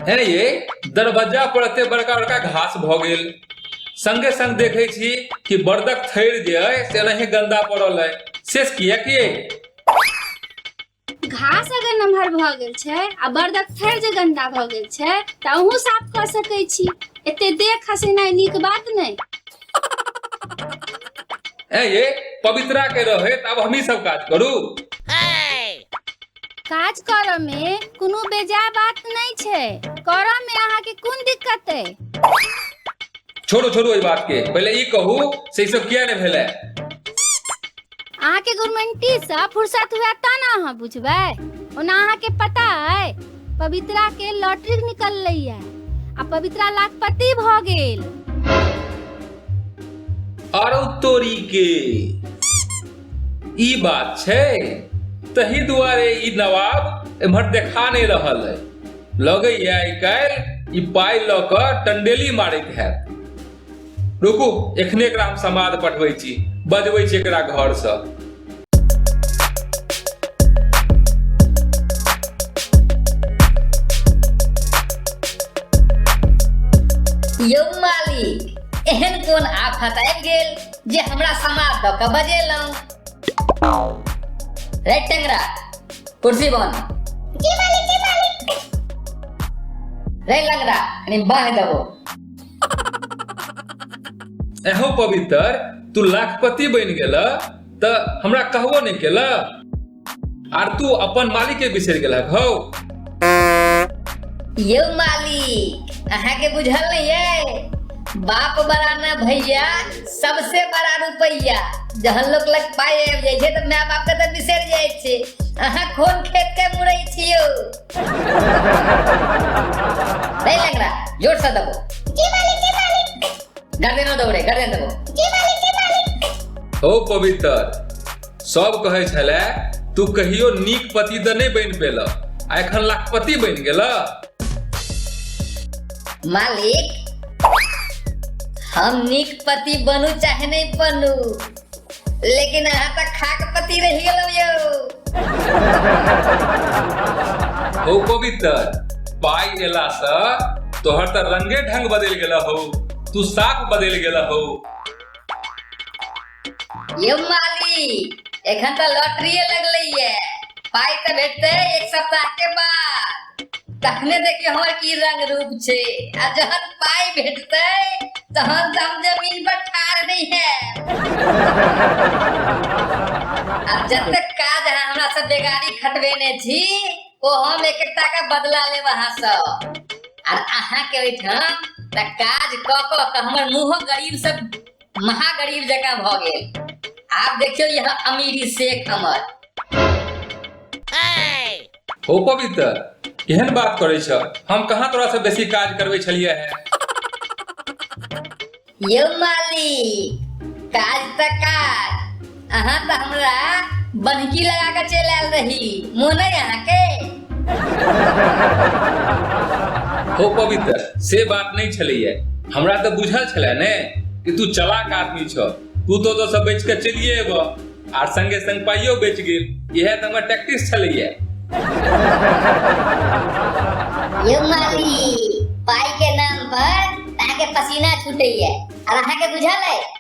है ने ये दरवाजा पर एते बड़का बड़का घास भ गेल संगे संग देखे छी कि बर्दक थैर जे है से नहीं गंदा पड़ल है शेष किया किए घास अगर नमहर भऽ गेल छै आ बर्दक थैर जे गन्दा भऽ गेल छै तऽ अहूँ साफ कऽ सकै छी एते देख खसेनाइ नीक बात नहि ए ये पवित्रा के रहे त अब हमही सब काज करू काज करऽ मे कोनो बेजाय बात नहि छै करऽ मे अहाँके कोन दिक्कत अइ छोड़ू छोड़ू एहि बात के पहिले ई कहू से ई सब किया ने भेलै अहाँके गुरमेंटी से फुर्सत हुआ ता ना अहाँ बुझबै ओना अहाँके पता है पवित्रा के लॉटरी निकल रही है आ पवित्रा लाखपति भ गेल आरो तोरी के ई बात छै तही दुआरे ई नवाब एम्हर देखा नहि रहल है लगैए आइ काल्हि ई पाइ लऽ कऽ टंडेली मारैत हैत रुकू एखने एकरा हम समाद पठबै छी बजबै छी एकरा घरसँ यौ मालिक एहन कोन आफत आबि गेल जे हमरा समाद दऽ कऽ बजेलहुँ रेड टेंगरा कुर्सी बन जी मालिक जी मालिक रेड लंगरा यानी बाह दबो एहो पवित्र तू लाखपति बन गेल त हमरा कहबो नहीं केल आर तू अपन मालिक के बिसर गेल हौ यो मालिक अहा के बुझल नहीं है बाप बराना भैया सबसे बड़ा रुपैया जहन लोक लग पाइ आबि जाइ छै तऽ माय बापके तऽ बिसरि जाइ छै अहाँ कोन खेतके मुड़ै छियौ नहि लग रहा जोरसँ देबो जी मालिक जी मालिक गर्दनो दौड़े गर्दन देबो जी मालिक जी मालिक हो पवित्र सब कहै छलै तू कहियो नीक पति तऽ नहि बनि पेलह आ एखन लाखपति बनि गेलह मालिक हम नीक पति बनू चाहे नहीं बनू लेकिन अहाँ तो खाक पति रह गेलौ यौ हो पवित्र पाई एला से तोहर तो रंगे ढंग बदल गेला हो तू साफ बदल गेला हो यौ मालिक एखन तऽ लॉटरिए लगलैए पाइ तऽ भेटतै एक सप्ताहके बाद तखने देखियौ हमर की रंग रूप छै आ जहन पाइ भेटतै तहन तऽ हम जमीन पर ठाढ़ नहि हैब आ जतेक काज अहाँ हमरा से बेगारी खटबेने छी ओ हम एक एकटा के बदला लेब अहाँ सब आर अहाँके ओहिठाम तऽ काज कऽ कऽ कऽ हमर मुँहो गरीब सब महागरीब जकाँ भऽ गेल आब देखियौ यहाँ अमीरी शेख हमर हो पवित्र केहन बात करै छ हम कहाँ तोरा से बेसी काज करबै छलियै है यौ मालिक काज तऽ काज अहाँ तऽ हमरा बन्हकी लगा कऽ चलि आयल रही मोन अइ अहाँके हो पवित्र से बात नहि छलैया हमरा तऽ बुझल छलै ने कि तू चलाक आदमी छह तू तो ओतऽ सब बेच कऽ चलिए एबह आर संगे संग पाइयो बेच गेल इएह तऽ हमर टैक्टिस छलैया यौ माली पाइ के नाम पर अहाँके पसीना छूटैया आर अहाँके बुझल अइ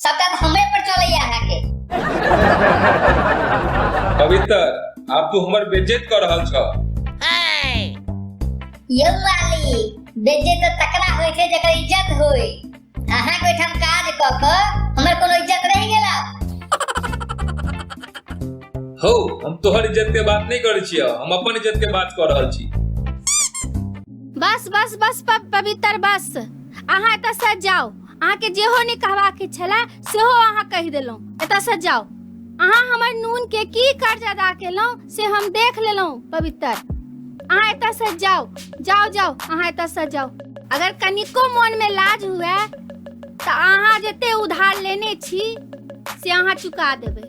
सबटा तऽ हमरे पर चलैया अहाँ के पवित्र आब तू हमर बेज्जत कर रहल छ यौ वाली बेजे तऽ तकरा होइ छै जकर इज्जत होय अहाँ के ओहिठाम काज कऽ कऽ हमर कोनो इज्जत रहि गेला हो हम तोहर इज्जत के बात नहीं करे छियै हम अपन इज्जत के बात कर रहल छी बस बस बस प- पवित्र बस अहाँ एतऽ से जाओ अहाँके जेहो नहि कहबाक के छले सेहो अहाँ कहि देलहुँ एतयसँ जाउ अहाँ हमर नून के की कर्ज अदा केलहुँ से हम देख लेलहुँ पवित्र अहाँ एतयसँ जाउ जाउ जाउ अहाँ एतयसँ जाउ अगर कनिको मोन में लाज हुए तऽ अहाँ जते उधार लेने छी से अहाँ चुका देबै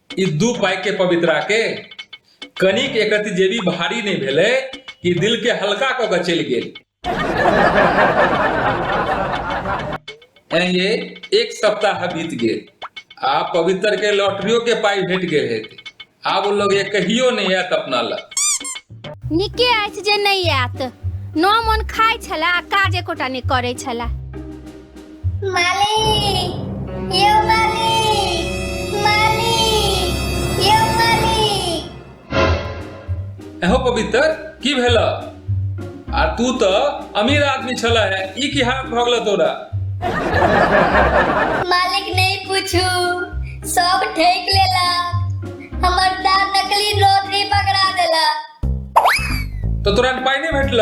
ई दू पाई के पवित्रा के कनिक एकति जेबी भारी नहीं भेले कि दिल के हल्का क के चल गेल ये एक सप्ताह बीत गए आ पवित्र के लॉटरियो के पाई भेट गए है आब वो लोग ये कहियो नहीं आयत अपना लग निके अछि जे नहि आयत न मोन खाइ छला आ काज एकोटा नहि करै छला एहो पवित्र की भेल आ तू तो अमीर आदमी छला है ई की हालत भऽ गेल तोरा मालिक नहीं पूछू सब ठेक लेला हमर दार नकली नोट ही पकड़ा देला तो तोरा पाई नहीं भेटल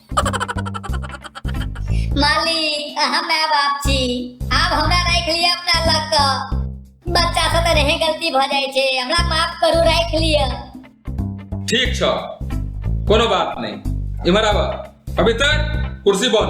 मालिक अहाँ माय बाप छी आब हमरा राख लिया अपना लग क बच्चा से त रहे गलती भ जाय छै हमरा माफ करू राख लिया ठीक छ कोनो बात नहीं इमर आबा अभी तक कुर्सी बन